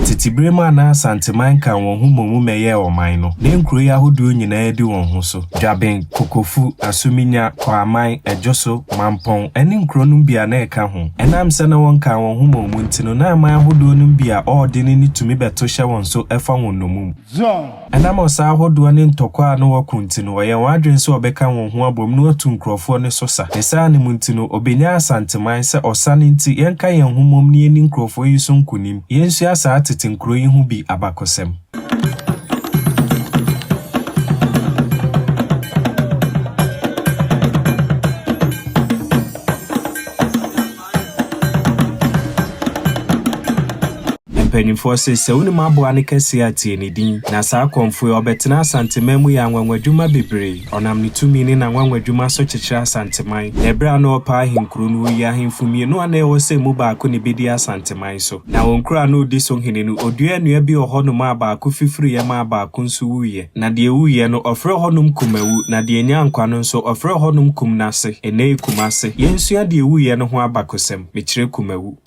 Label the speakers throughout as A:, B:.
A: Tete bere mu a na Asanteman ka wɔn ho mmom mmɛyɛɛ ɔman no, na nkuro yi ahodoɔ nyinaa adi wɔn ho so. Dwaben, Kokofu, Asuminya, Kwaman, Adwoso, Mampɔn, ne nkuro nom bi a na ɛka ho. Ɛnam sɛ na wɔnkaa wɔn ho mmom nti no, na aman ahodoɔ nom bi a ɔɔdene ne tumi bɛto hyɛ wɔn so fa wɔn nnomum. Zion, Ɛnam ɔsa ahodoɔ ne ntɔkwa a na wɔko nti no, ɔyɛɛ wɔn adwene sɛ ɔbɛka wɔn ho abom na watu nkurɔfoɔ no so sa. Ne saa no mu nti no, ɔbɛnyaa Asanteman, sɛ ɔsa no nti, yɛnka yɛn ho mmom na yɛnni nkurɔfoɔ yi so nkonim. Yɛnsua saa tete nkuro yi ho bi abakɔsɛm. Mpanimfoɔ se sɛ wonim aboa no kɛseɛ a tie ne din. Na saa kɔmfoɔ yi ɔbɛtena Asanteman mu yɛ anwanwadwuma bebree. Ɔnam ne tumi ne n'anwanwadwuma so kyekyere Asanteman. Na ɛberɛ a na ɔrepɛ ahenkuro no ɔyii ahemfo mmienu a na ɛwɔ sɛ ɛmu baako na ɛbɛdi Asanteman so. Na wɔn kuro a na ɔdi so hene no ɔduaa nnua bi wɔ hɔnom a baako fifiriiɛ maa baako nso wuiɛ. Na deɛ wuiɛ no ɔfrɛɛ hɔnom Kumawu, na deɛ nya nkwa no nso ɔfrɛɛ hɔnom Kumnase, ɛnnɛyi Kumase. Yɛnsua deɛ wuiɛ no ho abakosɛm, mekyerɛ Kumawu.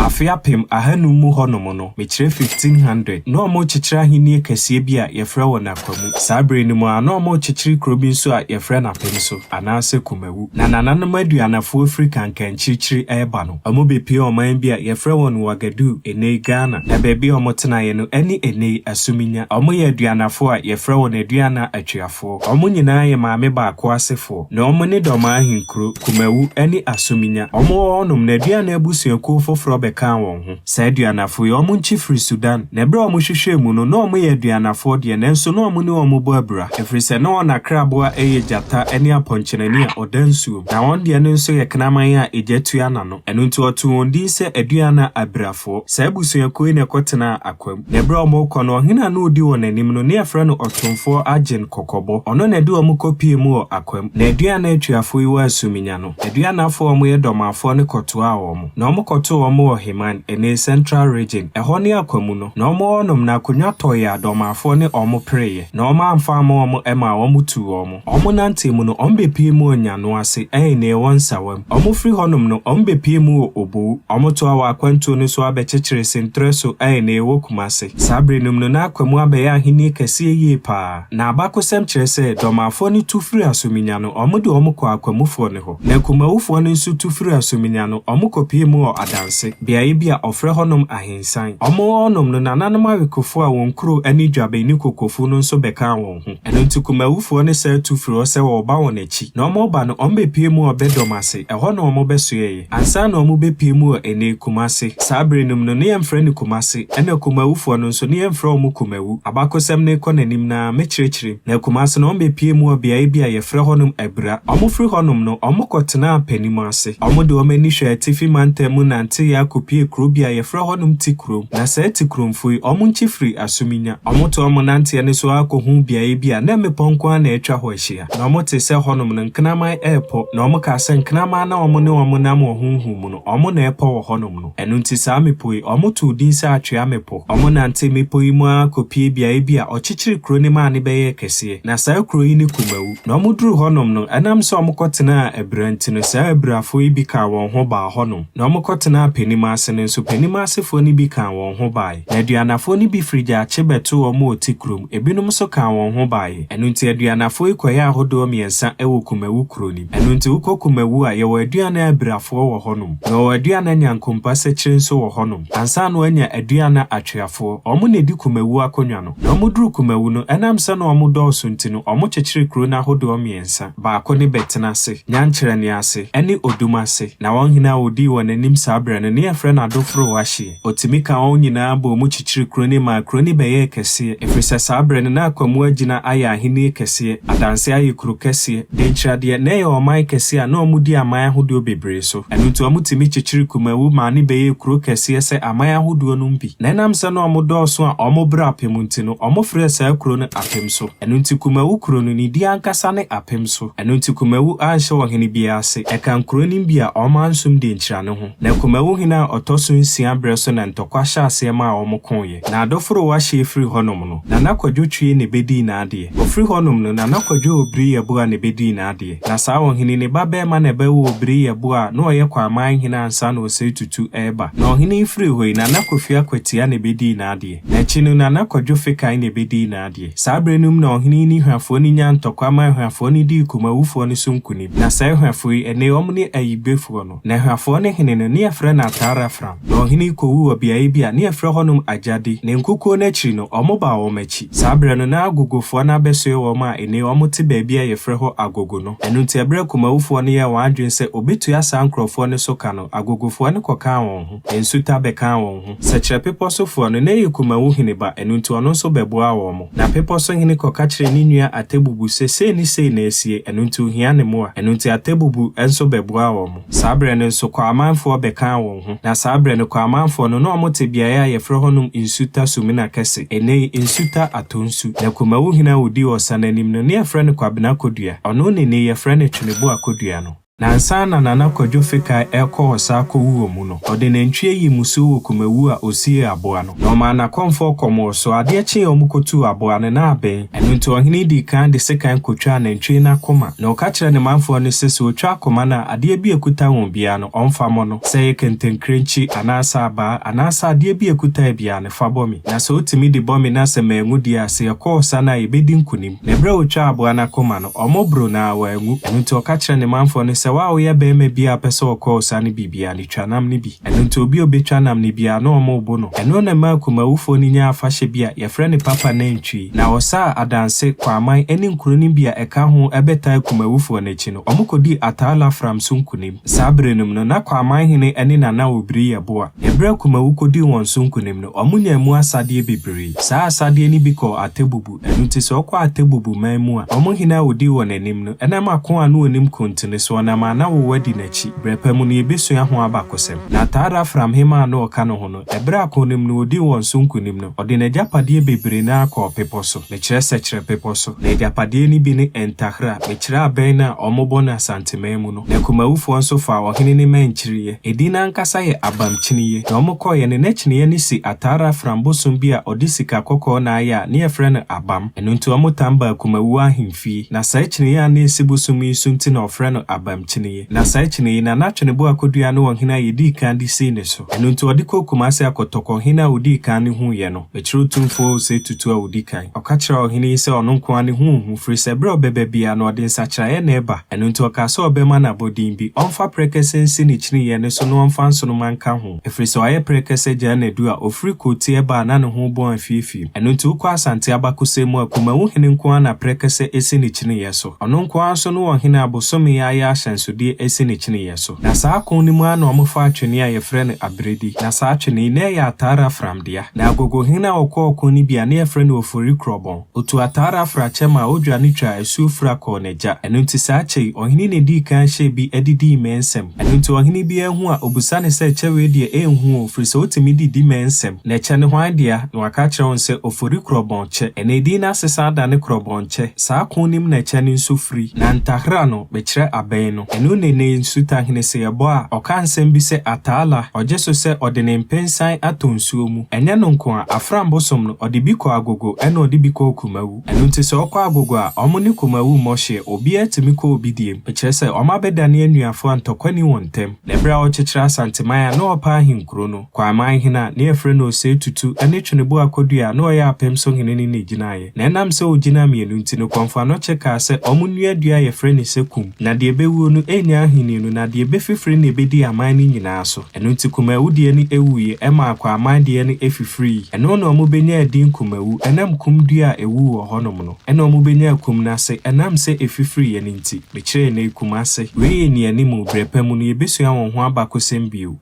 A: Afe apem ahanum mu hɔnom no, Mekyerɛ fifteen hundred. Na wɔrekyekyere ahennie kɛseɛ bi a wɔfrɛ wɔ Nakwa mu. Saa berɛ no mu ara, na wɔrekyekyere kuro bi nso a wɔfrɛ no Apemso, anaasɛ Kumawu. Na nananom aduanafoɔ firi Kankankyirikyiri reba no, wɔbɛpue ɔman bi a wɔfrɛ wɔn Ouagadougou, ɛnnɛ yi Ghana. Na baabi a wɔtenaeɛ no ne ɛnnɛ yi Asuminya. Wɔyɛ aduanafoɔ a wɔfrɛ wɔn Aduana Atweafoɔ. Wɔn nyinaa yɛ maame baako asefoɔ. Na wɔn ne Dɔmaa ahenkuro, Kumawu, ne Asuminya. Wɔwɔ hɔnom no, Aduana abusuakuo foforɔ bɛkaa wɔn ho. Saa aduanafo yi, wɔn nkye firi Sudan, na ɛberɛ a wɔhwehwɛɛ mu no, na wɔyɛ aduanafoɔ deɛ, nanso na wɔne wɔn bɔ abira, ɛfiri sɛ na wɔn akraboa yɛ gyata ne apɔnkyenani a ɔda nsuom, na wɔn deɛ no nso yɛ kraman a egya tua n'ano, ɛno nti wɔtoo wɔn din sɛ Aduana abirafoɔ. Saa abusuakuo yi na ɛkɔtenaa Akwam, na ɛberɛ a wɔrekɔ no, ɔhene a na ɔdi wɔn anim no, na yɛfrɛ no Ɔtomfoɔ Agyen Kɔkɔbɔ, ɔno na ɛde wɔn kɔpuee mu wɔ Akwam, na Aduana atuafoɔ yi wɔ Asuminya no. Aduanafoɔ a wɔyɛ Dormafoɔ no kɔtoaa wɔn, na wɔkɔtoo wɔn wɔ Heman, ɛnnɛyi Central Region, ɛhɔ ne Akwamu no, na wɔwɔ hɔnom, na akonnwa tɔeɛ a Dormafoɔ ne wɔn pereeɛ, na wɔn amfa amma wɔn ɛmaa wɔtuu wɔn. Wɔnantee mu no, wɔbɛpuee mu wɔ Nyano ase, ɛnnɛyi wɔ Nsawam. Wɔfiri hɔnom no, wɔbɛpuee mu wɔ Obou. Wɔtoaa wɔn akwantuo no so ara bɛkyekyeree Sentrɛ so, ɛnnɛyi wɔ Kumase. Saa berɛ no mu no, na Akwamu abɛyɛ ahennie kɛseɛ yie pa ara. Na abakɔsɛm kyerɛ sɛ Dormafoɔ no tu firi Asuminya no, wɔde wɔn kɔɔ Akwamufoɔ no hɔ. Na Kumawufoɔ no nso tu firi Asuminya no, wɔn kɔpie mu wɔ Adanse, beaeɛ bi a wɔfrɛ hɔnom Ahensan. Wɔn wɔ hɔnom no, nananom awekofoɔ a wɔn kuro ne Dwaben ne Kokofu no nso bɛkaa wɔn ho. Ɛno nti Kumawufoɔ no san tu firi hɔ sɛ wɔreba wɔn akyi. Na wɔreba no, wɔbɛpuee mu wɔ Bɛdɔm ase, ɛhɔ na wɔbɛsoɛeɛ. Ansa na ɔmo bɛ pue mu wɔ ɛnɛ, Kumasi. Saa bere nom no, ne yɛn frɛ no Kumasi. Ɛna Kumawu foɔ no nso, ne yɛn frɛ ɔmo Kumawu. Abakosɛm no rekɔ n'anim no ara, me kyerɛkyerɛ mu. Na Kumasi no, ɔmo bɛ pue mu wɔ beaɛ bi a yɛ frɛ hɔ nom Abira. Ɔmo firi hɔ nom no, ɔmo kɔ tenaa Panimu ase. Ɔmo de ɔmo ani hwɛ atifi mantam mu nanteeɛ akɔ pue kuro bi a yɛ frɛ hɔ nom Tikurom. Na saa Tikurom foɔ yi, ɔmo nkye firi Asuminya. Ɔmo toa ɔmo nanteɛ no so ara kɔ huu beaɛ bi a na mmepɔ nko ara na atwa hɔ ahyia. Na wɔtee sɛ hɔnom no nkraman repɔ, na wɔkaa sɛ, Nkraman no a wɔn ne wɔn nam wɔ honhom mu no, wɔn na ɛrepɔ wɔ hɔnom no. Ɛno nti saa mmepɔ yi, wɔtoo din sɛ Atwea Mmepɔ. Wɔnantee mmepɔ yi mu ara kɔpuee beaeɛ bi a ɔkyekyeree kuro no maa no bɛyɛɛ kɛseɛ. Na saa kuro yi ne Kumawu. Na wɔduruu hɔnom no, ɛnam sɛ wɔkɔtenaa abira nti no, saa abirafoɔ yi bi kaa wɔn ho baa hɔnom. Na wɔkɔtenaa Panimaase no nso, Panimaase foɔ no bi kaa wɔn ho baae. Aduanafoɔ no bi firi Gyakye bɛtoo wɔn a wɔte kurom, ebinom nso kaa wɔn ho baeɛ. Ɛno nti Aduanafoɔ yi kɔyɛ ahodoɔ mmiɛnsa wɔ Kumawu kuro no mu. Ɛno nti wokɔ Kumawu a, yɛwɔ Aduana abirafoɔ wɔ hɔnom. Yɛwɔ Aduana nyankompa sekyire nso wɔ hɔnom. Ansa na wɔanya Aduana atweafoɔ. Wɔn na ɛdi Kumawu akonnwa no. Na wɔduru Kumawu no, ɛnam sɛ na wɔn dɔɔso nti no, wɔkyekyere kuro no ahodoɔ mmiɛnsa. Baako ne Bɛtena ase, Nyankyerɛnne ase, ne Odum ase. Na wɔn hene a ɔdii wɔn anim saa berɛ no, na yɛfrɛ no Adoforo Wahyeɛ. Otumi kaa wɔn nyinaa bɔɔ mu kyekyeree kuro no maa kuro no bɛyɛɛ kɛseɛ, ɛfiri sɛ saa berɛ no na Akwamu agyina ayɛ ahennie kɛseɛ, Adanseɛ ayɛ kuro kɛseɛ, Denkyiradeɛ na ɛyɛ ɔman kɛseɛ a na wɔdi aman ahodoɔ bebree so. Ɛno nti wɔtumi kyekyeree Kumawu maa no bɛyɛɛ kuro kɛseɛ sɛ aman ahodoɔ no mu bi. Na ɛnam sɛ na wɔdɔɔso a wɔn berɛ apem nti no, wɔfrɛɛ saa kuro no Apemso. Ɛno nti Kumawu kuro no, ne din ankasa ne Apemso. Ɛno nti Kumawu anhyɛ ɔhene biara ase. Ɛka nkuro no mu bi a wɔansom Denkyira no ho. Na Kumawu hene a ɔtɔ so nsia berɛ so na ntɔkwa hyɛ aseɛ maa wɔn koeɛ. Na Adoforowa hyeɛ firi hɔnom no, Nana Kwadwo twee ne bɛ dii n'adeɛ. Ɔfiri hɔnom no, Nana Kwadwo Obiriyɛboa ne bɛ dii n'adeɛ. Na saa ɔhene ne ba barima na ɛbɛwoo Obiriyɛboa a na ɔyɛ Kwaman hene ansa na Osei Tutu reba. Na ɔhene yi firi hɔ yi, Nana Kofi Akwatia na ɛbɛ dii n'adeɛ. Na akyi no, Nana Kwadwo Fekan na ɛbɛ dii n'adeɛ. Saa berɛ no mu na ɔhene yi ne Hwafoɔ no nyaa ntɔkwa maa Hwafoɔ no dii Kumawufoɔ no so nkunim. Na saa Hwafoɔ yi, ɛnnɛ yi wɔn ne Ayigbefoɔ no. Na Hwifoɔ no hene no, ne yɛfrɛ no Atarafram, na ɔhene yi kɔwuu wɔ beaeɛ bi a ne yɛfrɛ hɔnom Agyadi, ne nkokoɔ no akyiri no, wɔbaa wɔn akyi. Saa berɛ no, na Agogofoɔ no abɛsoɛ wɔn a ennɛ yi wɔte baabi a yɛfrɛ hɔ Agogo no. Ɛno nti, ɛberɛ a Kumawufoɔ no yɛɛ wɔn adwene sɛ wɔbɛtua saa nkorɔfoɔ no so ka no, Agogofoɔ no kɔkaa wɔn ho. Nsu ta bɛkaa wɔn ho. Sɛ kyerɛ bepɔ so foɔ no, na ɛyɛ kumawu hene ba, ɛno nti ɔno nso bɛboaa wɔn. Na bepɔ so hene kɔka kyerɛɛ ne nua Atebubu sɛ sei ne sei na asie, ɛno nti ohia ne mmoa. Ɛno nti Atebubu nso bɛboaa wɔn. Saa berɛ no nso Kwamanfoɔ bɛkaa wɔn ho. Na saa berɛ no Kwamanfoɔ no, na wɔte beaeɛ a yɛfrɛ hɔnom Nsu ta Sumina Kɛse, ɛnnɛ yi Nsu ta Atonsu. Na kumawu hene a ɔdii Ɔsan anim no, na yɛfrɛ no Kwabena Kodua. Ɔno ne nnɛ yi yɛfrɛ no Tweneboa Kodua no. Na ansa na Nana Kwadwo Fekai rekɔ ɔsa akɔwu wɔ mu no, ɔde nantwie yii mmusuo wɔ Kumawu a ɔsiee aboa no. Na ɔmaa n'akɔmfoɔ kɔmoo so. Adeɛ kyeeɛ a wɔkɔtuu aboa no, na abɛn. Ɛno nti ɔhene dii kan de sekan kɔtwaa nantwie no akoma. Na ɔka kyerɛɛ ne manfoɔ no sɛ, sɛ wɔtwa akoma no a, adeɛ bi a ɛkuta wɔn biara no, wɔmfa mmɔ no. Sɛ ɛyɛ kɛntɛnkirenkyi, anaasɛ abaa, anaasɛ adeɛ bi a ɛkutaeɛ biara no, fa bɔ me. Na sɛ wotumi de bɔ me na sɛ manwu deɛ a, sɛ yɛkɔ ɔsa no a, yɛbɛdi nkonim. Na ɛberɛ a wɔtwaa aboa no akoma no, Wɔboro no ara wanwu. Ɛno nti ɔka kyerɛɛ ne manfoɔ no sɛ, Wo a woyɛ barima bi a wopɛ sɛ wɔkɔ ɔsa no biribiara no, twa nam no bi. Ɛno nti obi a ɔbɛtwa nam no biara, na wɔbo no. Ɛno na ɛmaa akumawufoɔ no nyaa afahyɛ bi a wɔfrɛ no Papa Nantwi. Na ɔsaa Adanse, Kwaman, ne nkuro no bi a ɛka ho bɛtaa akumawufoɔ no akyi no, wɔkɔdii Ataa Lafram so nkonim. Saa berɛ no mu no, na Kwaman hene ne Nana Obiri yɛ boa. Ɛberɛ a Akumawu kɔdii wɔn so nkonim no, wɔnyaa mu asadeɛ bebree. Saa asadeɛ no bi kɔɔ Atebubu. Ntsi sɛ ɔkɔ Atebubu man mu a, ɔmo hen a odii hɔn enyim no, nna ma ko a no wɔ no mu kuntsini, so ɔnam a na wɔwɔ adi n'ekyir. Berɛ pa mu no, yebesua ho abakɔsɛm. Na ataa do Afram hemmaa a na ɔka no ho no, ber a ko no mu no odii hɔn so nkunim no, ɔde n'egyapadeɛ beberee no ara kɔɔ bepɔ so, mekyerɛ Sekyerɛ bepɔ so. Na egyapadeɛ no bi ne Entakhra, mekyerɛ abɛn no a wɔbɔ no Asante man mu no. na akumawofoɔ nso faa ɔhene no mmɛn kyireeɛ. Edin no ankasa yɛ Abamkyineɛ. Deɛ wɔkɔeɛ no, na kyineeɛ no si Ataara afram bosom bi a ɔde sika kɔkɔɔ na ayɛ a na yɛfrɛ no Abam. Ɛno nti wɔtan ba akumawuo ahemfie. Na saa kyineeɛ a na ɛsi bosom yi so nti na wɔfrɛ no Abamkyineɛ. Na saa kyineeɛ yi, na na Tweneboa akɔdua ne ɔhene a yɛdii kan de sii ne so. Ɛno nti wɔde kɔɔ Kumase akɔtɔkɔ ɔhene a ɔdii kan no huiɛ no. Mekyerɛw Tumfoɔ Osei Tutu a odi kan. Ɔka kyerɛɛ ɔhene yi sɛ ɔno nko ara ne ho nhu, firi sɛ bere a ɔbɛba biara no, ɔde nsakyeraeɛ na ɛba. Ɛno nti ɔkaa sɛ ɔbɛma no abɔdin bi, ɔmfa prɛkɛsɛ nsi ne kyiniiɛ no so na ɔmfa nsoromma nka ho, ɛfiri sɛ ɔayɛ prɛkɛsɛ gyaa nnadu a ɔfiri Kootie ba a na ne ho rebɔ afiefie. Ɛno nti wokɔ Asante abakɔsɛm mu a, Kumawu hene nko ara na prɛkɛsɛ asi ne kyiniiɛ so. Ɔno nko ara nso ne ɔhene a bosome ayɛ ahyɛnsodeɛ asi ne kyiniiɛ so. Na saa ako no mu ara na wɔfaa twene a wɔfrɛ no aberedi. Na saa twene yi, na ɛyɛ ataara fram. dea. Na Agogohen a ɔkɔ ɔko no bi a ne yɛfrɛ no Ofori Krɔbɔn. Otu ataare afra kyɛ maa Odwa no twaa asuo fura kɔɔ n'agya. Ɛno nti saa kyɛ yi, ɔhene na edii kan hyɛɛ bi de dii mmɛn nsam. Ɛno nti ɔhene biara hu a, obisa no sɛ, Ɛkyɛ wei deɛ, ɛnhu o, firi sɛ wotumi de di mmɛn nsam. Na ɛkyɛ no hwan dea? Na waka akyerɛ wɔn sɛ, Ofori Krɔbɔn kyɛ. Ɛnna edin no asesan dane Krɔbɔn kyɛ. Saa ko no mu na ɛkyɛ no nso firi. Na Ntahra no, mekyerɛ abɛn no. Eno ne ne nsutahene se yɛbɔ a, ɔka nsem bi sɛ Ataala, ɔgye so sɛ ɔde ne mpensan atɔ nsuo mu. Ɛnyɛ no nko a, Afram bosom no, ɔde bi kɔ Agogo ɛna ɔde bi kɔɔ Kumawu. Ɛno nti sɛ ɔkɔ Agogo a, wɔn ne Kumawu mmɔ hyeɛ, obiara tumi kɔ obi deɛ mu. Ɛkyerɛ sɛ wɔabɛdane anuafoɔ a ntɔkwa nni wɔn ntam. Na ɛberɛ a ɔrekyekyere Asanteman a na ɔrepɛ ahenkuro no, Kwaaman hene a na yɛfrɛ no Osei Tutu ne Tweneboa Akwadua a na ɔyɛ Apem so hene no na ɛgyinaeɛ. Na ɛnam sɛ wɔgyinaa mmienu nti no, Kɔmfoano Kye kaa sɛ wɔnnua dua a yɛfrɛ no sɛ Kum, na deɛ ɛbɛwuo no ɛnnya ahennie no, na deɛ ɛbɛfifiri na ɛbɛdi aman no nyinaa so. Ɛno nti Kumaawu deɛ no ɛwuiɛ, ɛmaa Kwaaman deɛ no ɛfifirii. Ɛno na wɔbɛnyaa edin Kumawu, ɛnam Kum dua a ɛwu wɔ hɔnom no, ɛna wɔbɛnyaa Kum no ase, ɛnam sɛ ɛfifiriiɛ no nti. Mekyerɛɛ nnɛ yi Kumase. Wei yɛ nnianim o, berɛ pa mu no yɛbɛsua wɔn ho abakɔsɛm bio.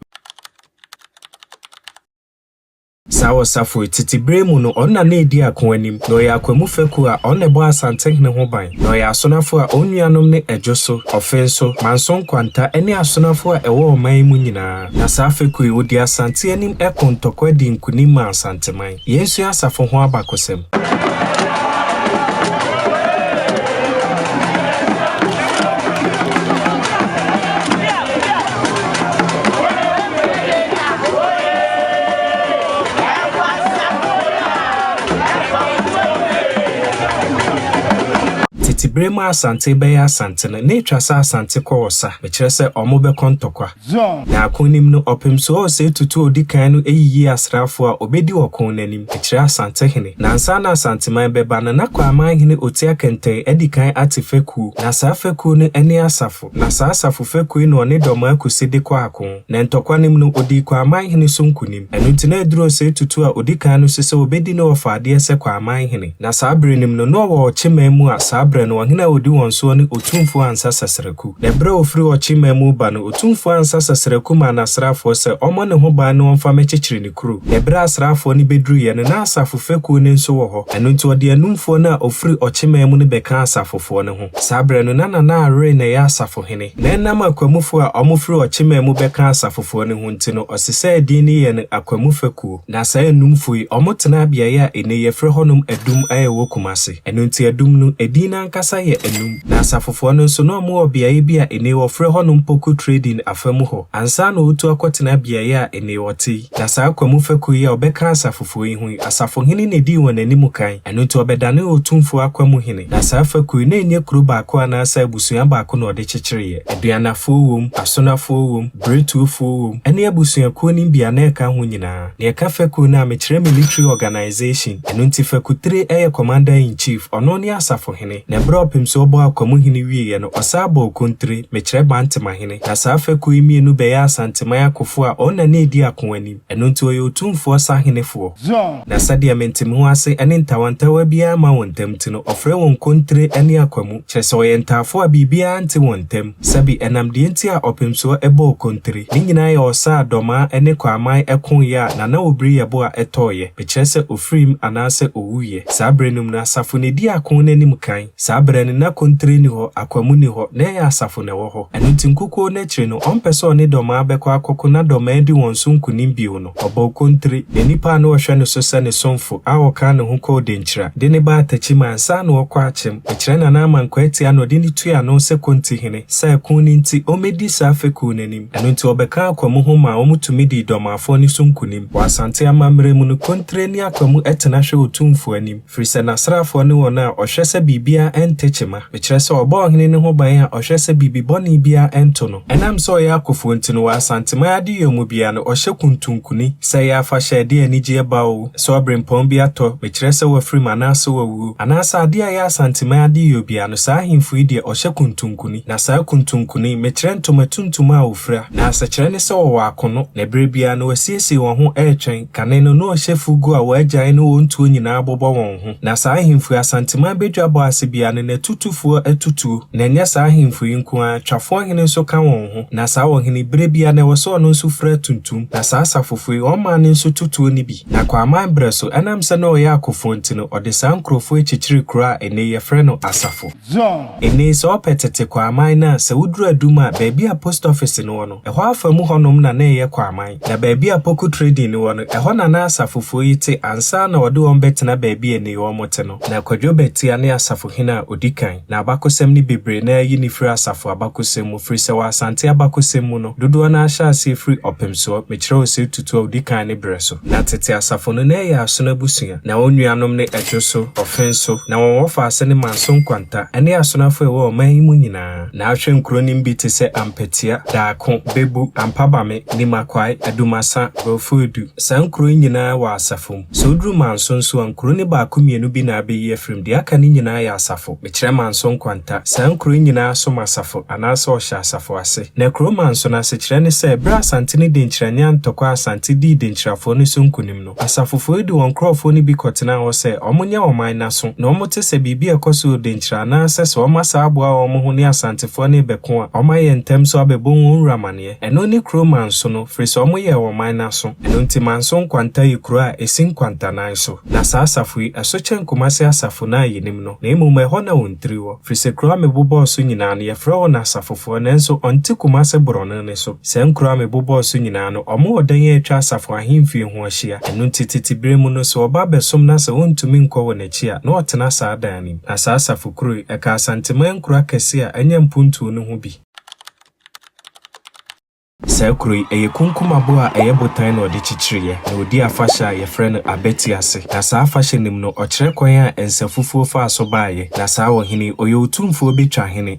A: Saa ɔsafo yi, tsetse ber mu no, ɔnna no edzi akõ anim, na ɔyɛ akwamu fakuw a ɔnna ɛbɔ Asantenhene ho ban, na ɔyɛ asonafo a onuanom ne Ɛdwo so, Ɔfen so, Manso Nkwanta ne asonafo a ɛwɔ ɔman yi mu nyinaa. Na saa fekuw yi, wodii Asante anim ko ntɔkwa dii nkunim maa Asanteman. Yensua asafo ho abakɔsɛm. Tete bere mu a Asante bɛyɛ Asante no, na etwa sɛ Asante kɔ ɔsa, mekyerɛ sɛ wɔbɛkɔ ntɔkwa. Zion. Na akonim no, ɔpem so ɔsɛe tutu a odi kan no yiyi asraafo a obedi ɔko no anim, ɛkyerɛ Asante hene. Na ansa na Asanteman bɛba no, na Kwaaman hene Otia Kɛntɛn adi kan ate fekuo, na saa fekuo no ne asafo, na saa asafo fekuo yi na ɔne Dɔmaa Kusi de kɔ ako. Na ntɔkwa no mu no, odii Kwaaman hene so nkonim. Ɛno nti na ɛduru ɔsɛe tutu a odi kan no so sɛ obedi no ɔfa adeɛ sɛ Kwaaman hene. Na saa berɛ no mu no, na ɔwɔ Ɔkyeman mu a saa berɛ no ɔhene a odi wɔn soɔ ne Otumfuo Ansa Sɛsrɛ. ku. Na bere a ofiri ɔkye man mu reba no, otumfoɔ ansa Saseraku maa n'asraafoɔ sɛ ɔmmɔ ne ho ban na ɔmfa mmɛkyekyere ne kuro. Na bere a asraafoɔ no bɛduruiɛ no, na asafo fekuo no nso wɔ hɔ. Ɛno nti ɔde anumfoɔ no a ɔfiri ɔkye man mu no bɛkaa asafofoɔ no ho. Saa berɛ no, na Nana Aroe na ɛyɛ asafohene. Na ɛnam akwamufoɔ a wɔfiri ɔkye man mu bɛkaa asafofoɔ no ho nti no, ɔsesaa edin no yɛɛ no Akwamu Fekuo. Na saa anumfo yi, wɔtenaa beae a nnɛ yɛfrɛ hɔnom Adum a ɛwɔ Kumasi. Ɛno nti Adum no, edin no ankasa yɛ Anum. Na Asafofoɔ no nso, na wɔwɔ beae bi a nnɛ wɔfrɛ hɔnom Poku Trading afa mu hɔ, ansa na wɔretu akɔtena beae a nnɛ wɔte yi. Na saa Kwamu fɛkuo yi a wɔbɛka Asafofoɔ yi ho yi, Asafohene na edii wɔn anim kan. Ɛno nti ɔbɛdanee Otumfoɔ Akwa mu hene, na saa fekuo yi, na ɛnyɛ kuro baako anaasɛ abusua baako na ɔde kyekyereeɛ. Aduannafoɔ wom, Asonafoɔ wom, Berɛtuofoɔ wom, ɛne abusuakuo no bi a na ɛka ho nyinaa. Deɛ ɛka fekuo no a, mekyerɛ military organization. Ɛno nti Fekutire yɛ Commander in Chief, ɔno ne Asafohene. Na berɛ a ɔpem so ɔbɔɔ Akwa mu hene wieeɛ no, ɔsan bɔɔ Okontire, mekyerɛ Bantemahene. Na saa fekuo yi mmienu bɛyɛɛ Asanteman akofoɔ a ɔn na na ɛdi ako anim. Ɛno nti ɔyɛ otumfoɔ sahenefoɔ. Zion. Na sɛdeɛ me ntemeho ase ne ntawantawa biara mma wɔn ntam nti no, ɔfrɛ wɔn nkontire ne akwamu, kyerɛ sɛ ɔyɛ ntaafoɔ a biribiara nte wɔn ntam. Sɛbe, ɛnam deɛ nti a ɔpemsoɔ bɔɔ kontire, ne nyinaa yɛ ɔsa a dɔmaa ne kwaaman koeɛ a Nana Obiri yɛ bo a ɛtɔeɛ, mekyerɛ sɛ ɔfirim anaasɛ ɔwuiɛ. Saa berɛ no mu no, asafo na ɛdi ako no anim kan. Saa berɛ no, na kontire nni hɔ, akwamu nni hɔ, na ɛyɛ asafo na ɛwɔ hɔ. Ɛno nti, nkukuo no akyire no, ɔmpɛ sɛ ɔne dɔmaa bɛkɔ akɔko na dɔmaa adi wɔn so nkonim bio no, ɔbɔɔ kontire, na nnipa a na wɔhwɛ no so sɛ ne somfo, a ɔkaa ne ho kɔɔ Denkyira, de no baa Atakyima ansa na ɔrekɔ Akyem. Mekyerɛ Nana Ama Nkwaatia na ɔde no tuu ano sɛ Kontihene, sɛ ɛko no nti, ɔmmɛdi saa fekuo no anim. Ɛno nti, ɔbɛkaa akwamu ho maa wɔtumi dii dɔmaafoɔ no so nkonim. Wɔ Asante amammerɛ mu no, kontire ne akwamu tena hwɛ otumfoɔ anim. Ɛfiri sɛ n'asraafoɔ ne wɔn a wɔhwɛ sɛ biribiara nte kyema, mekyerɛ sɛ wɔbɔ ɔhene no ho ban a ɔhwɛ sɛ biribi bɔne biara nto no. Ɛnam sɛ ɔyɛ akofoɔ nti no, wɔ Asanteman adeyɔ mu biara no, ɔhyɛ kuntunkuni, sɛ ɛyɛ afahyɛ a ɛde anigyeɛ ba oo, sɛ ɔberempɔn bi atɔ, mekyerɛ sɛ wafirim anaasɛ wawuo, anaasɛ adeɛ a ɛyɛ Asanteman adeyɔ biara no, saa ahemfo yi deɛ, wɔhyɛ kuntunkuni. Na saa kuntunkuni, mekyerɛ ntoma tuntum a wɔfira. Na asekyerɛ ne sɛ wɔwɔ akono, na berɛ biara no wɔasiesie wɔn ho retwɛn. Kane no, na ɔhyɛ fugu a wɔagyae ne wɔn tuo nyinaa bobɔ wɔn ho. Na saa ahemfo yi, Asanteman badwa bɔ ase biara no, n'atutufoɔ atu tuo. Na ɛnyɛ saa ahemfo yi nko ara, Twafoɔ hene nso ka wɔn ho. Na saa ɔhene yi, berɛ biara no, ɛwɔ sɛ ɔno nso fura tuntum. Na saa Asafofo yi, wɔn maa no nso tu tuo no bi. Na Kwaaman berɛ so, ɛnam sɛ na ɔyɛ akofoɔ nti no, ɔde saa nkurɔfoɔ yi kyekyeree kuro a ɛnnɛ yi yɛfrɛ no Asafo. Ɛnnɛ yi, sɛ wopɛ tete Kwaaman no a, sɛ woduru Adum a, baabi a post office no wɔ no, Ɛhɔ afa mu hɔnom na na ɛyɛ Kwaman, na baabi a Poku Trading no wɔ no, ɛhɔ na na asafofoɔ yi te ansa na wɔde wɔn bɛtena baabi a nnei wɔte no. Na Kwadwo Batia ne asafohene a ɔdi kan, na abakɔsɛm no bebree no ara yi no firi asafo abakɔsɛm mu, firi sɛ wɔ Asante abakɔsɛm mu no, dodoɔ no ara hyɛ aseɛ firi Ɔpemsoɔ, mekyerɛ wo sɛ Tutu a ɔdi kan no berɛ so. Na tete asafo no, na ɛyɛ Asono abusua, na wɔn nuanom ne Adwoso, Ɔfenso, na wɔn wɔfaase ne Manso Nkwanta, ɛne Asono afoa a ɛwɔ ɔman yi mu nyinaa. Na ahwɛ nkuro nim bi te sɛ Ampetia, Daako, Bebu, Ampabame, Nimakwai, Adumasa, Brofo Edu. Saa nkuro yi nyinaa wɔ asafo mu. Sɛ woduru Manso nso a, nkuro no baako mmienu bi na abɛyi afiri mu. Deɛ aka no nyinaa yɛ asafo. Mekyerɛ Manso Nkwanta. Saa nkuro yi nyinaa som asafo anaasɛ wɔhyɛ asafo ase. Na kuro Manso no asekyerɛ ne sɛ, berɛ a Asante no denkyira ne Antɔkwa Asante dii denkyirafoɔ no so nkonim no, Asafofoɔ yi de wɔn nkurɔfoɔ no bi kɔtenaa hɔ sɛ wɔnyɛ wɔn man no aso, na wɔte sɛ biribi a ɛkɔ so wɔ Denkyira anaasɛ sɛ wɔn asan aboa wɔn ho ne Asantefoɔ no rebɛko a, wɔayɛ ntɛm so abɛbɔ wɔn wura amaneɛ. Ɛno ne kuro Manso no, firi sɛ wɔyɛɛ wɔn man no aso. Ɛno nti Manso Nkwanta yɛ kuro a ɛsi nkwantanan so. Na saa asafo yi, ɛso kyɛn Kumase asafo no a yɛnim no, na mmom ɛhɔ na wɔn tiri wɔ. Firi sɛ kuro a mebobɔɔ so nyinaa no, yɛfrɛ wɔn Asafofoɔ, nanso wɔnte Kumase borɔno no. no so. Saa nkurow a mebobɔɔ so nyinaa no, wɔwɔ ɔdan a atwa asafo ahemfie ho ahyia. Ɛno nti, tete bere mu no, sɛ ɔba abɛsom na sɛ ontumi nkɔ wɔn akyi a, na ɔtena saa dan no mu. Ná saa asafo kurow yi, ɛka Asanteman nkurow akɛse a anya mpontuo no ho bi. Saa kurow yi, ɛyɛ kunkum abo a ɛyɛ botan na wɔde kyekyereeɛ, na wɔdi afahyɛ a wɔfrɛ no Abati ase. Na saa afahyɛ no mu no, wɔkyerɛ kwan a nsafufuo faa so baeɛ. Na saa ɔhene yi, ɔyɛ otumfoɔ bɛtwa hene.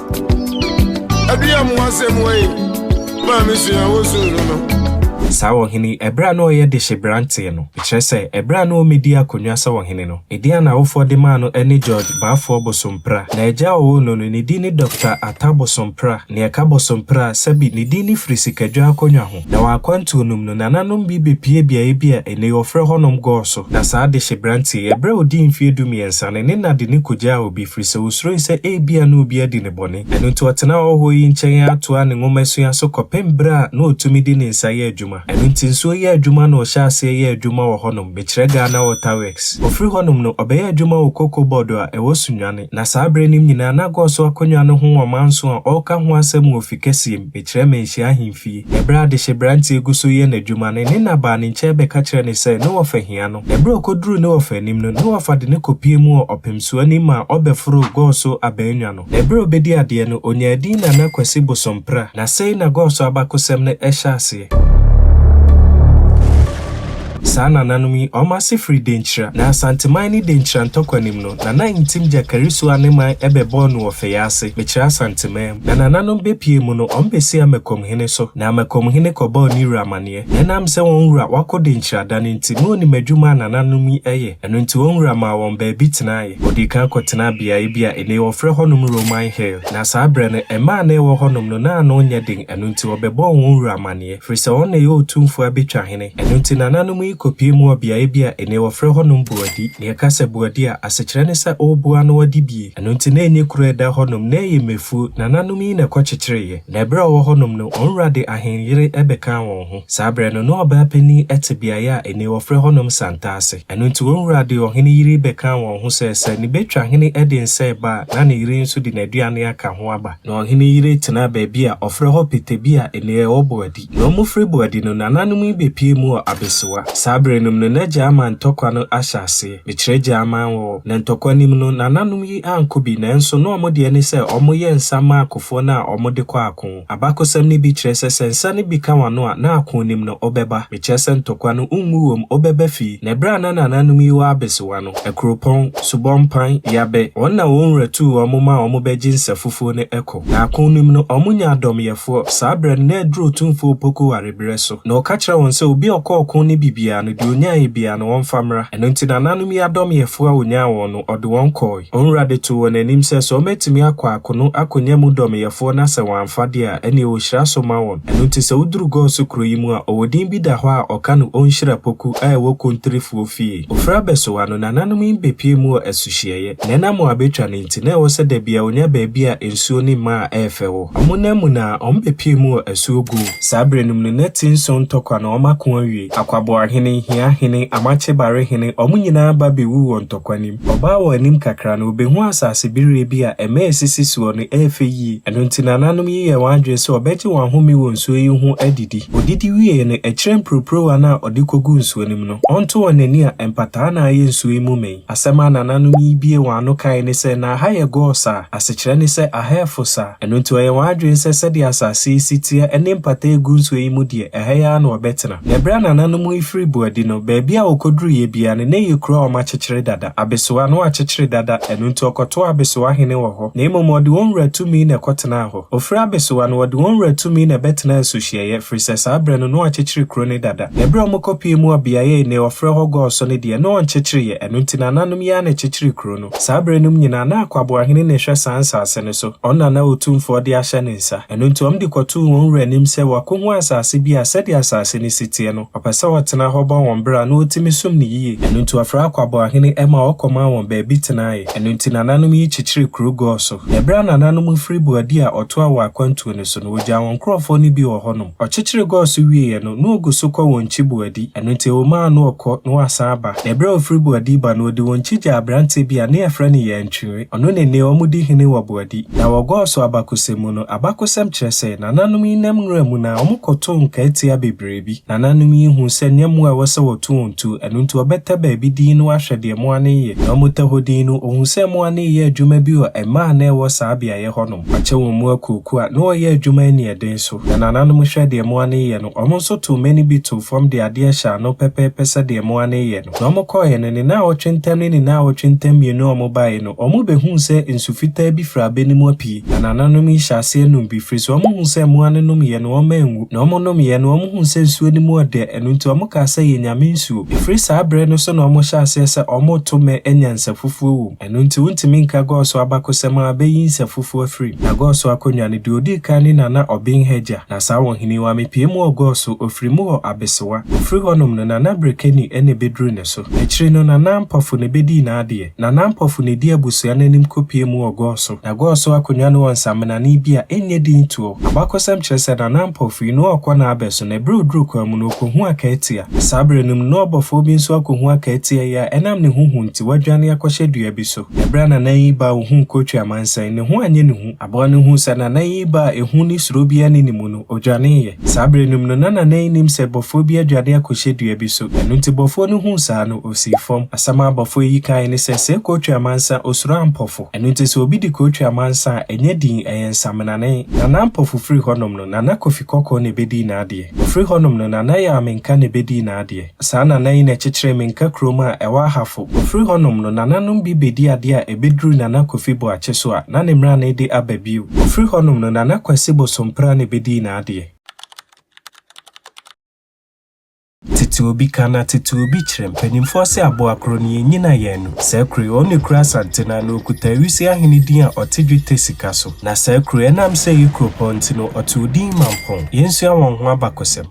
B: Aduya mu asɛm wei maa me sua wosu no no. Saa ɔhene
A: yi, ɛberɛ a na ɔyɛ dehyeberanteɛ no, ɛkyerɛ sɛ, ɛberɛ a na ɔmmɛdi akonnwa sɛ ɔhene no, ne din a n'awofoɔ de maa no ne George Baafoɔ Bosomppra. Na agya a ɔwoo no no, ne din ne Dɔkta Attah Bosomppra, nea ɛka Bosomppra, sɛbi, ne din no firi sikadwa akonnwa ho. Na wɔ akwantuo nom no, nananom bi bɛpue beaeɛ bi a ɛnnɛ yi wɔfrɛ hɔnom Gɔɔso, na saa dehye beranteɛ yi, ɛberɛ a ɔdii mfeɛ dumiɛnsa no, ne na de no kɔgyaa obi, ɛfiri sɛ ɔsuroe sɛ ebia na obi adi ne bɔne. Ɛno nti ɔtenaa ɔhɔhoɔ yi nkyɛn ara toaa ne nwomasua so kɔpem berɛ a na ɔtumi de ne nsa yɛ adwuma. Ɛno nti nsuo yɛ adwuma na ɔhyɛɛ aseɛ yɛɛ adwuma wɔ hɔnom, mekyerɛ Ghana Water Works. Ɔfiri hɔnom no, ɔbɛyɛɛ adwuma wɔ Koko Bɔɔdo a ɛwɔ Sunyani. Na saa berɛ no nyinaa na Gɔɔso akonnwa no ho ɔmanso a ɔreka ho asɛm wɔ ofi kɛseɛ mu, ɛkyerɛ Manhyia Ahemfie. Ɛberɛ a adehyeberanteɛ gu so reyɛ n'adwuma no, ne na baa ne nkyɛn bɛka kyerɛɛ no sɛ, ne wɔfa hia no. Ɛberɛ a ɔkɔduruu ne wɔfa anim no, ne wɔfa de no kɔpuee mu wɔ ɔpemsoɔ anim maa ɔbɛforoo Gɔɔso abannwa no. Na ɛberɛ a ɔbɛdii adeɛ no, ɔnyaa din Nana Kwasi Bosompra. Na sei na Gɔɔso abakosɛm no hyɛ aseɛ. Saa nananom yi, wɔn ase firi Denkyira. Na Asanteman ne Denkyira ntɔkwanim no, Nana Ntim gya Karisu a ne man bɛbɔɔ no wɔ Fɛyɛase, mekyerɛ Asanteman mu. Na nananom bɛpue mu no, wɔn bɛsi Amakom hene so. Na Amakom hene kɔbɔɔ ne wura amaneɛ. Na ɛnam sɛ wɔn wura wakɔ Denkyira da no nti, na ɔnim adwuma a nananom yi yɛ. Ɛno nti wɔn wura maa wɔn baabi tenaeɛ. Wɔdii kan kɔtenaa beaeɛ bi a nnɛ yi wɔfrɛ hɔnom Roman Hill. Na saa berɛ no, mmaa a na ɛwɔ hɔnom no, na ano nyɛ den, ɛno nti wɔbɛbɔɔ wɔn wura amaneɛ. firi sɛ ɔno na ɛyɛ otumfoɔ a bɛtwa hene. Ɛno nti nananom yi kɔpie mu wɔ beaeɛ bi a ennɛ wɔfrɛ hɔnom Boadi. Deɛ ɛka sɛ Boadi a, asekyerɛ ne sɛ ɔrebo ano adibie. Ɛno nti na ɛnyɛ kuro a ɛda hɔnom, na ɛyɛ mmɛfuo. Nananom yi na ɛkɔkyekyereeɛ. Na ɛberɛ a wɔwɔ hɔnom no, wɔn wura de ahenyere bɛkaa wɔn ho. Saa berɛ no, na ɔbaa panin te beaeɛ a ennɛ wɔfrɛ hɔnom Santa ase. Ɛno nti wɔn wura de ɔhene yere bɛkaa wɔn ho sɛ sɛ ne bɛtwa hene de nsɛe ba a, na ne yere nso de n'aduane aka ho aba. Na ɔhene yere tenaa baabi a ɔfrɛ hɔ Petebia, nnua a ɛwɔ Boadi. Na wɔfiri Boadi no, nananom yi bɛpuee mu wɔ Abesewa. Saa berɛ no mu no, na agya aman ntɔkwa no ahyɛ aseɛ. Mekyerɛ agya aman wɔ hɔ. Na ntɔkwa no mu no, nananom yi ankɔ bi, nanso na wɔn deɛ ne sɛ wɔyɛ nsã ma akofoɔ no a wɔde kɔ ako. Abakɔsɛm no bi kyerɛ sɛ sɛ nsã no bi ka w'ano a, na ako nim no, wobɛba. Ekyerɛ sɛ ntɔkwa no ngu wom obɛba fi na bere a na nananom yi wɔ abesewa no, akuropɔn, subɔ mpan, yabɛ, wɔn na wɔn wura tuu wɔn ma wɔn bɛ gye nsa fufuo no ɛkɔ. Na akon no mu no wɔn nya adɔm yɛfoɔ, saa berɛ no na aduru otumfoɔ Opoku ware berɛ so. Na ɔka kyerɛ wɔn sɛ obi a ɔkɔ ɔko ne bibiaa no deɛ ɔnyaeɛ biaa no wɔmfa mmra. Ɛno nti nananom yi adɔm yɛfoɔ a ɔnyaa wɔn no ɔde wɔn kɔɔe. Onwura de too wɔn anim sɛ sɛ wɔatumi akɔ akono akonya mu dɔmeyɛfoɔ na sɛ wɔamfa deɛ a, ɛnneɛ ɔhyira so ma wɔn. Ɛno nti sɛ woduru Gɔɔso kuro yi mu a, ɔwɔ din bi da hɔ a ɔka no Onhyira Poku a ɛwɔ Kontrifoɔ fie. Ofiri abɛsowa no, nananom yi bɛpue mu wɔ asuhyeɛeɛ. Na ɛnam wɔn abɛtwa no nti, na ɛwɔ sɛ da biara wɔnya baabi a nsuo ne mmaa a ɛyɛ fɛ wɔ. Wɔn nam mu no ara, wɔbɛpue mu wɔ asuo go. Saa berɛ no mu no, na ti nson ntɔkwa na wɔako awie. Akwaboahene, Hiahene, Amakye Barehene, wɔn nyinaa ba bɛwuu wɔ ntɔkwa no mu. Ɔbaa wɔn anim kakra no, obehuu asase bereɛ bi a ɛmɛ a esisi soɔ no ɛyɛ fɛ yie. Ɛno nti nananom yi yɛɛ wɔn adwene sɛ wɔbɛgye wɔn ahome wɔ nsuo yi ho adidi. Wɔdidi wiee no, ɛkyerɛ mpurupuruwa no a wɔde kɔgu nsuo no mu no, wɔnto wɔn ani a mpataa na ayɛ nsuo yi mu ma yi. Asɛm a nananom yi biee wɔn ano kaeɛ ne sɛ, Na aha yɛ gɔɔ saa. Asekyerɛ ne sɛ, aha ɛfo saa. Ɛno nti wɔyɛɛ wɔn adwene sɛ sɛdeɛ asase yi si teɛ ne mpataa a ɛgu nsuo yi mu deɛ, ɛha yi ara na wɔbɛtena. Na bere a nananom yi firi Boadi no, baabi a wɔkɔduruiɛ biara no, na ɛyɛ kuro a wɔakyekyere dada, abesoa, na wɔakyekyere dada, ɛno nti wɔkɔtoo abesoa hene wɔ hɔ, na mmom wɔde wɔn wura tumi na ɛkɔtenaa hɔ. Wɔfiri abesoa no, wɔde wɔn wura tumi na ɛbɛtenaa nsuhyeɛeɛ, ɛfiri sɛ saa berɛ no, na wɔakyekyere kuro no dada. Na bere a wɔkɔpuee mu wɔ beaeɛ a nnɛ wɔfrɛ hɔ Gɔɔso no deɛ, na wɔnkyekyereeɛ, ɛno nti nananom yi ara na ɛkyekyeree kuro no. Saa bere nom nyinaa na akwaboahene na ɛhwɛ saa nsaase no so, ɔno na na otumfoɔ de ahyɛ ne nsa. Ɛno nti ɔm de kɔtoo wɔn wura anim sɛ wɔakohu asaase bi a sɛdeɛ asaase no si teɛ no, ɔpɛ sɛ ɔtena hɔ bɔ wɔn bra na ɔtumi som no yie. Ɛno nti ɔfrɛɛ akwaboahene ma ɔkɔmaa wɔn baabi tenaeɛ. Ɛno nti nananom yi kyekyeree kuro gɔɔ so. Na ɛberɛ a nananom no firi Boadi a ɔtoaa wɔn akwantuo no so no, wɔgyaa wɔn nkurɔfoɔ no bi wɔ hɔnom. Ɔkyekyere gɔɔ so wieeɛ no, na ɔgu so kɔ wɔn nkyi Boadi. Ɛno nti wɔmaa no ɔkɔ na wasan aba. Na berɛ a ɔfiri Boadi ba no, ɔde wɔn akyi gyaa aberanteɛ bi a ne yɛfrɛ no Yɛntwere. Ɔno ne nne a wɔdi hene wɔ Boadi. Na wɔ Gɔɔso abakɔsɛm mu no, abakɔsɛm kyerɛ sɛ, nananom yi nam nwura mu na wɔkɔtoo nkaatia bebree bi. Nananom yi huu sɛ nyɛ mmoa a ɛwɔ sɛ wɔto wɔn tuo, ɛno nti wɔbɛtɛ baabi din na wɔahwɛ deɛ mmoa no reyɛ. Na wɔtɛ hɔ din no, wɔhuu sɛ mmoa no reyɛ adwuma bi wɔ mmaa a na ɛwɔ saa beaeɛ hɔnom. Wɔakyɛ wɔn mu akuokuo a na wɔyɛ adwuma aniɛden so. Na nananom hwɛ deɛ mmoa no reyɛ no, Wɔn nso too mmɛn no bi too fam de adeɛ hyɛɛ ano pɛpɛɛpɛ sɛdeɛ mmoa no reyɛ no. Na wɔkɔeɛ no, ne nnawɔtwe ntam ne ne nnawɔtwe ntam mmienu a wɔbaeɛ no, wɔbɛhuu sɛ nsu fitaa bi firi abɛ no mu apue. Na nananom yi hyɛɛ aseɛ nom bi, firi sɛ wɔhuu sɛ mmoa no nomeeɛ no, wɔanwu. Na wɔnomeeɛ no, wɔhuu sɛ nsuo no mu ɔdɛ, ɛno nti wɔkaa sɛ, Yɛnyame nsuo. Ɛfiri saa berɛ no so na wɔhyɛɛ aseɛ sɛ wɔreto mmɛ anya nsafufuo wom. Ɛno nti, wontumi nka Gɔɔso abakosɛm a abeyi nsɛmfufo afiri mu. Na Gɔɔso akonnwa no, deɛ ɔdi kan ne Nana Obinhaja, na saa ɔhene wa mepie mu wɔ Gɔɔso, ɔfiri mu wɔ Abesewa. Ɔfiri hɔnom no, Nana Brekani na ɛbɛduru ne so. Akyire no, Nana Ampɔfo na ɛbɛdii n'adeɛ. Nana Ampɔfo na ɛdii abusua no anim kɔpiee mu wɔ Gɔɔso. Na Gɔɔso akonnwa no wɔ nsamenane bi a ɛnyɛ din toɔ. Abakosɛm kyerɛ sɛ Nana Ampɔfo yi, na ɔrekɔ n'abɛ so, na ɛberɛ a ɔduru kwan mu no, ɔkɔhu Akaatia. Saa berɛ no mu no, na ɔbɔfoɔ bi nso akɔhu Akaatia yi a ɛnam ne ho hu nti, nti wadwane akɔhyɛ dua bi so. Bere a Nana Yi Ba a ohuu Kotwi amansan, ne ho anyɛ ne hu. Aboa no huu sɛ Nana Yi Ba a ehu ne suro biara nni ne mu no, odwaneeɛ. Saa bere no mu no, na Nana Yi nim sɛ bɔfoɔ bi adwane akɔhyɛ dua bi so. Ɛno nti bɔfoɔ no huu saa no, osii fam. Asɛm a bɔfoɔ yi kae ne sɛ, Sɛɛ Kotwi amansa, osuro ampɔfo. Ɛno nti sɛ obi di Kotwi amansa a, ɛnyɛ dinn, ɛyɛ nsamenanen. Nana Ampɔfo firi hɔnom no, Nana Kofi Kɔkɔɔ na ebedii n'adeɛ. Ɔfiri hɔnom no, Nana Yaa Menka na ebedii n'adeɛ. Saa nana yi na ɛkyekyeree me Nka kurom a ɛwɔ Ahafo. Ofiri hɔnom no, nananom bi bedi ade a ebeduru Nana Kofi Boakye so a, na ne mmerane de aba bio. Ofiri hɔnom no, Nana Kwasi Bosompra na ebedii n'adeɛ. Tete obi ka na tete obi kyerɛ. Mpanimfoɔ se aboa koro no, yɛnnyina yɛn ano. Saa kuro yi, ɔno na ɛkura Asante no ano. Ɔkuta Awise ahene din a ɔte dwetɛ sika so. Na saa kuro yi, ɛnam sɛ ɛyɛ kuropɔn nti no, ɔtoo din Mampong. Yɛnsua wɔn ho abakɔsɛm.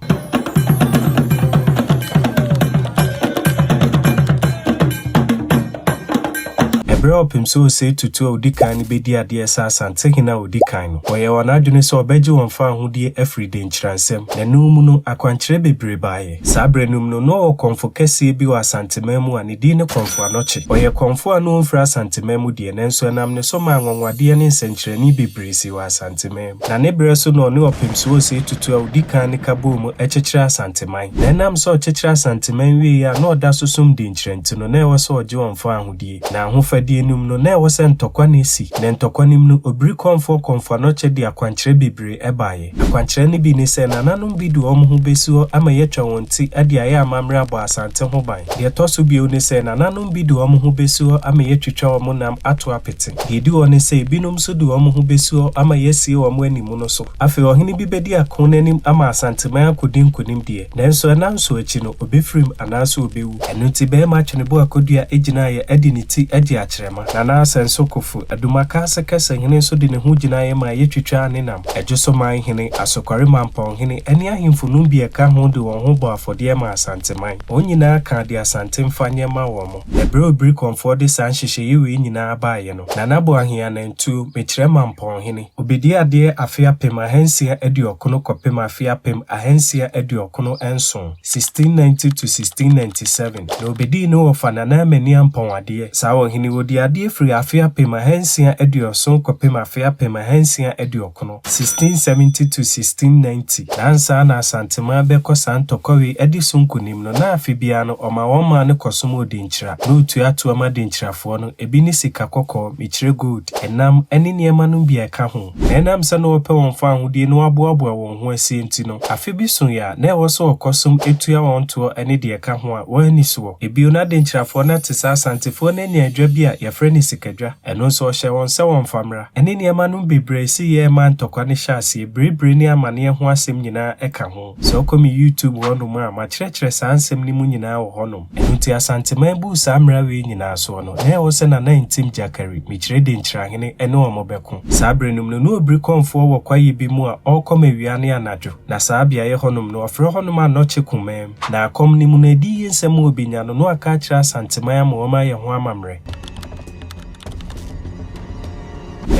A: Bere a ɔpem sɛ osei tutu a odi kan no bedi adeɛ sɛ Asantehene a odi kan no, ɔyɛɛ wɔn adwene sɛ ɔbɛgye wɔn fawohodie afiri denkyiransɛm na ɛno mu no akwankyerɛ bebree baeɛ. Saa bere no mu no, na ɔwɔ kɔmfo kɛseɛ bi wɔ Asanteman mu a ne din ne Kɔmfo Anɔkye. Ɔyɛ kɔmfo a na ɔmfiri Asanteman mu deɛ, nanso ɛnam ne so maa anwanwadeɛ ne nsɛnkyerɛnne bebree sii wɔ Asanteman mu. Na ne berɛ so na ɔne Ɔpemso Osei Tutu a ɔdi kan no ka bɔɔ mu kyekyeree Asanteman. Na ɛnam sɛ ɔkyekyere Asanteman wieeɛ a na ɔda so som denkyira nti no, na ɛwɔ sɛ ɔgye wɔn fa ahodie. Na ahofadie no mu no, na ɛwɔ sɛ ntɔkwa na ɛsi. Na ntɔkwa no mu no, Obiri Kɔmfoɔ Kɔmfoanokyɛ de akwankyerɛ bebree baeɛ. Akwankyerɛ no bi ne sɛ, nananom bi de wɔn ho bɛsi hɔ ama yɛatwa wɔn ti de ayɛ amammerɛ abɔ Asante ho ban. Deɛ ɛtɔ so bio ne sɛ, nananom. Ebinom bi de wɔn ho besi hɔ ama yɛatwitwa wɔn nam ato apete. Nea edi hɔ ne sɛ, ebinom nso de wɔn ho besi hɔ ama yɛasie wɔn ani mu no so. Afei ɔhene bi bedi ako no anim ama Asanteman akodi nkonimdeɛ. Nanso nnanson akyi no, obefirim anaasɛ obewu. Ɛno nti, barima atwenebo a kɔdua gyinaeɛ adi ne ti agye akyerɛma. Nana Asɛnso Kofu, Adumakaase Kɛse hene nso de ne ho gyinaeɛ maa yɛtwitwaa ne nam. Adwosoman hene, Asokware Mampɔn hene, ne ahemfo nom bi a ɛka ho de wɔn ho bɔɔ afɔdeɛ maa Asanteman. Wɔn nyinaa kaa deɛ Asante mfa nyɛ ma wɔn. Ɛberɛ a Obirikɔnfoɔ de saa nhyehyɛeɛ wei nyinaa baeɛ no, Nana Boahen Anantuo, mekyerɛ Mampɔnhene, ɔbɛdi adeɛ afe apem ahansia aduɔkono kɔpem afe apem ahansia aduɔkono nson, 1690–1697, na ɔbɛdii ne wɔfa Nana Amani Ampɔn adeɛ. Saa ɔhene yi, ɔdii adeɛ firii afe apem ahansia aduɔson kɔpem afe apem ahansia aduɔkono. 1670 to 1690, na ansa na Asanteman bɛkɔ saa ntɔkwawi adi so nkonim no, na afe biara no ɔma wɔn maa no kɔsom Odenkyira, na otua toɔ ma Denkyirafoɔ no, ebi ne sika kɔkɔɔ, mekyerɛ gold, ɛnam, ne nneɛma nom bi a ɛka ho. Na ɛnam sɛ na wɔpɛ wɔn fawohodie na wɔaboaboa wɔn ho asie nti no, afe bi soeɛ a, na ɛwɔ sɛ wɔkɔsom tua wɔn toɔ ne deɛ ɛka ho a wɔanni soɔ. Bio, na Denkyirafoɔ no ate sɛ Asantefoɔ no anya adwa bi a wɔfrɛ no Sikadwa, ɛno nso ɔhyɛɛ wɔn sɛ wɔmfa mmra. Ɛne nneɛma nom bebree se yɛɛ ma ntɔkwa no hyɛ aseɛ, birebire ne amaneɛ ho asɛm nyinaa ka ho. Sɛ wokɔ me YouTube hɔ nom a, makyerɛkyerɛ saa nsɛm no mu nyinaa wɔ hɔ nom. Ɛno nti Asanteman buu saa mmara wei nyinaa soɔ no, na ɛwɔ sɛ Nana Ntim Gyakari, Mikyire Denkyirahene, ne wɔn bɛko. Saa bere nom no, na ɔbiri kɔmfoɔ wɔ kwaeɛ bi mu a ɔrekɔm awia ne anadwo. Na saa beaeɛ hɔ nom no, wɔfrɛ hɔ nom Anɔkye Kumaa mu. Na akɔm no mu no, adiyi nsɛm a ɔbɛnya no, na waka akyerɛ Asanteman ama wɔayɛ ho amammerɛ.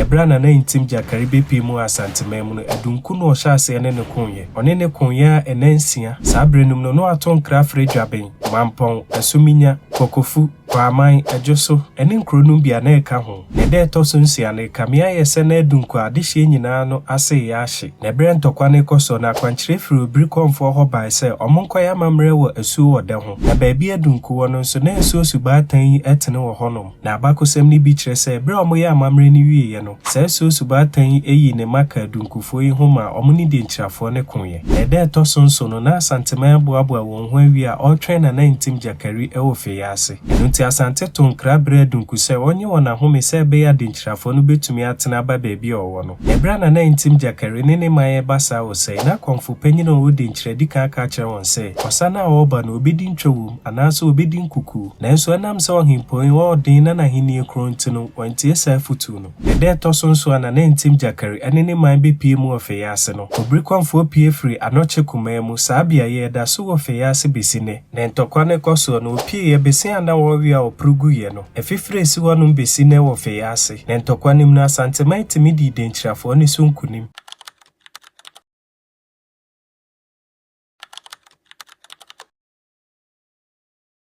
A: Ɛberɛ a Nana Ntim Gyakari bɛpue mu Asanteman mu no, Adunku na ɔhyɛ aseɛ ne no koeɛ. Ɔne no koeɛ ara nna nsia. Saa berɛ no mu no, na wɔato nkra afrɛ Dwaben, Mampɔn, Asuminya, Kokofu, Kwaaman, Adwoso, ne nkuro nom bi a na ɛka ho. Na ɛda a ɛtɔ so nsia no, ɛkame ayɛ sɛ na Adunku a adehyeɛ nyinaa no ase reyɛ ahye. Na ɛberɛ a ntɔkwa no rekɔ soɔ no, akwankyerɛ firi Obirikɔnfoɔ hɔ bae sɛ wɔnkɔyɛ amammerɛ wɔ asuo ɔdɛ ho. Na baabi a Adunku wɔ no nso, na nsuo subaatan yi tene wɔ hɔnom. Na abakɔsɛm no bi kyerɛ sɛ bere a wɔyɛɛ amammerɛ no wieeɛ no, saa suasubɔatan yi yii ne mma kaa Dunkufoɔ yi ho maa wɔn ne Denkyirafoɔ no koeɛ. Na ɛda a ɛtɔ so nson no, na Asanteman aboaboa wɔn ho awie a ɔretwɛn Nana Ntim Gyakari wɔ Feye ase. Ɛno nti Asante too nkra brɛɛ Dunku sɛ ɔnyɛ wɔn ahome sɛ ɛbɛyɛ a Denkyirafoɔ no bɛtumi atena aba baabi a ɔwɔ no. Na bere a Nana Ntim Gyakari ne ne man reba saa wɔ Sayi, na Kɔmfo panyin a ɔwɔ Denkyira di kan aka akyerɛ wɔn sɛ ɔsane a ɔreba no ɔbɛdi ntwa wom. anaasɛ obedi nkuku. Nanso ɛnam sɛ ɔhempɔn yi ɔɔ den na n'ahenni korɔn nti no, wantie saa afotuo no. Na ɛda a ɛtɔ so nson a Nana Ntim Gyakari ɛne ne man bepue mu wɔ Feyaase no, Obrikɔmfoɔ pue firii Anɔkye Kumaa mu. Saa beaeɛ yi, ɛda so wɔ Feyaase besi nnɛ. Na ntɔkwa no kɔ soɔ no, ɔpueeɛ besi a na wɔrewea ɔporo guiɛ no. Afifire a esi hɔ nom besi nnɛ wɔ Feyaase. Na ntɔkwa no mu no, Asanteman tumi dii Denkyirafoɔ no so nkunim.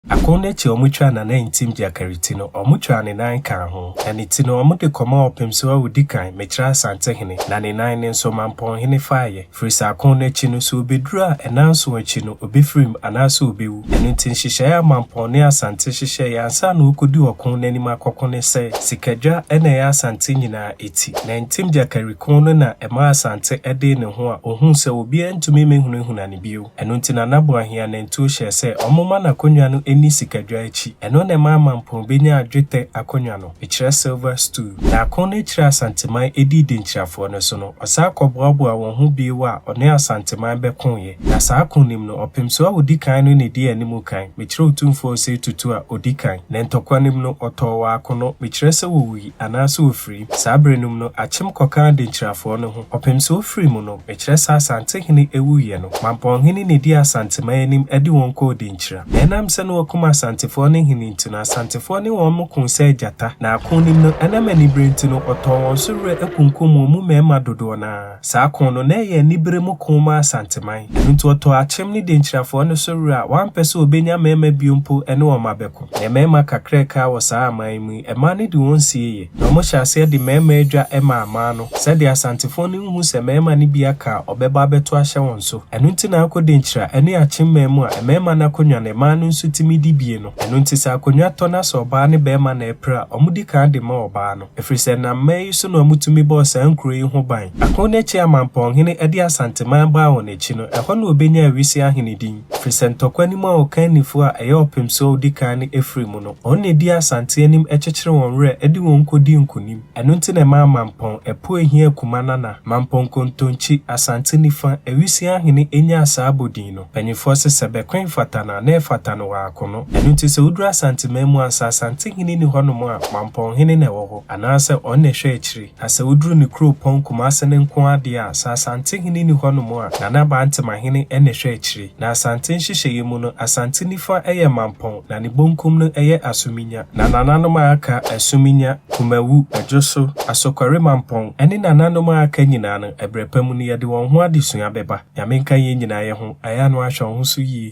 A: Akon no akyi a wɔtwaa n'anantim gyakari ti no, wɔtwaa ne nan kaa ho, na ne ti no, wɔde kɔmaa ɔpemso a odi kan, Mekyerɛ Asantehene, na ne nan no nso, Mampɔnhene faeɛ. Firi sɛ akon no akyi no, sɛ ɔbɛduru a, nnanson akyi no, ɔbɛfirim, anaasɛ ɔbɛwu. Ɛno nti, nhyehyɛeɛ a Mampɔn ne Asante hyehyɛeɛ ansa na wɔrekɔdi ɔko no anim akɔko ne sɛ, sikadwa na ɛyɛ Asante nyinaa ti. Nantim gyakari kon no na ɛmaa Asante dee ne ho a ɔhuu sɛ obiara ntumi mmɛhunahuna no bio. Ɛno nti Nana Boahia nantuo hyɛɛ sɛ wɔmma n'akonnwa no nni sikadwa akyi. Ɛno na ɛmaa Mampong bɛnyaa dwetɛ akonnwa no, mekyerɛ silver stool. Na ako no akyiri a Asanteman dii Denkyirafoɔ no so no, ɔsan kɔboaboaa wɔn ho bio a ɔne Asanteman bɛkoeɛ. Na saa ako no mu no, Ɔpemsoɔ a ɔdi kan no na ɛdii anim kan, mekyerɛ Otumfoɔ Osei Tutu a ɔdi kan. Na ntɔkwa no mu no, ɔtɔɔ wɔ ako no, mekyerɛ sɛ ɔwui. anaa sɛ ɔfirii. Saa berɛ nom no akyem kɔkaa Denkyirafoɔ no ho. Ɔpem sɛ ɔfirii mu no, mekyerɛ sɛ Asante hene awuiɛ no, Mampɔn hene na ɛdii Asanteman anim de wɔn kɔɔ Denkyira. Na ɛnam sɛ na wɔakum Asantefoɔ no hene nti no, Asantefoɔ ne wɔn mo koo sɛ agyata. Na ako nim no, ɛnam aniberɛ nti no, ɔtɔɔ wɔn so werɛ kunkumm wɔn mu mmarima dodoɔ no ara. Saa ko no, na ɛyɛ anibere mu ko ma Asanteman. Ɛno nti, ɔtɔɔ Akyem ne Denkyirafoɔ no so were a wampɛ sɛ ɔbɛnya mmarima bio mpo ne wɔn abɛko. Ɛyɛ mmarima kakra a ɛkaa wɔ saa aman yi mu yi, mmaa no de wɔn sie yɛ, na wɔhyɛɛ aseɛ de mmarima adwa maa mmaa no, sɛdeɛ Asantefoɔ no nhu sɛ mmarima no bi aka a ɔbɛba abɛto ahyɛ wɔn so. Ɛno nti na akɔ Denkyira ne Akyem man mu a, mmarima no akonnwa no, mmaa no nso tumi di bie no. Ɛno nti, sɛ akonnwa tɔ na sɛ ɔbaa ne barima na ɛpere a, wɔdi kan de ma ɔbaa no. ɛfiri sɛ na mmɛn yi so na wɔtumi bɔɔ saa nkuro yi ho ban. Ako no akyi a Mampɔnhene de Asanteman baa wɔn akyi no, ɛhɔ na wɔbɛnyaa Awise ahene din, ɛfiri sɛ ntɔkwa no mu a Ɔkannifoɔ a ɛyɛ ɔpemsoɔ a ɔdi kan no firi mu no, wɔn na ɛdii Asante anim kyekyere wɔn werɛ de wɔn kɔdii nkonim. Ɛno nti na ɛmaa Mampɔn Apueihia Akumana Nana, Mampɔn Kontonkyi, Asante Nifa, Awise ahene nyaa saa abodin no. Mpanyimfoɔ se sɛ bɛko mfata no a, na ɛfata no wɔako no. Ɛno nti sɛ woduru Asanteman mu ansa Asantehene nni hɔnom a, Mampɔnhene na ɛwɔ hɔ, anaasɛ ɔno na ɛhwɛ akyire. Na sɛ woduru ne kuropɔn Kumase no nko ara deɛ a, sɛ Asantehene nni hɔnom a, Nana Bantemahene na ɛhwɛ akyire. Na Asante nhyehyɛeɛ mu no, Asante nifa yɛ Mampɔn, na ne bonkum no yɛ Asuminya. Na nananom a aka, Asuminya, Kumawu, Adwoso, Asokware Mampɔn, ne nananom a aka nyinaa no, ɛberɛ pa mu no, yɛde wɔn ho adesua bɛba. Nyame nka yɛn nyinaa yɛ ho. Aya no ahwɛ wo ho so yie.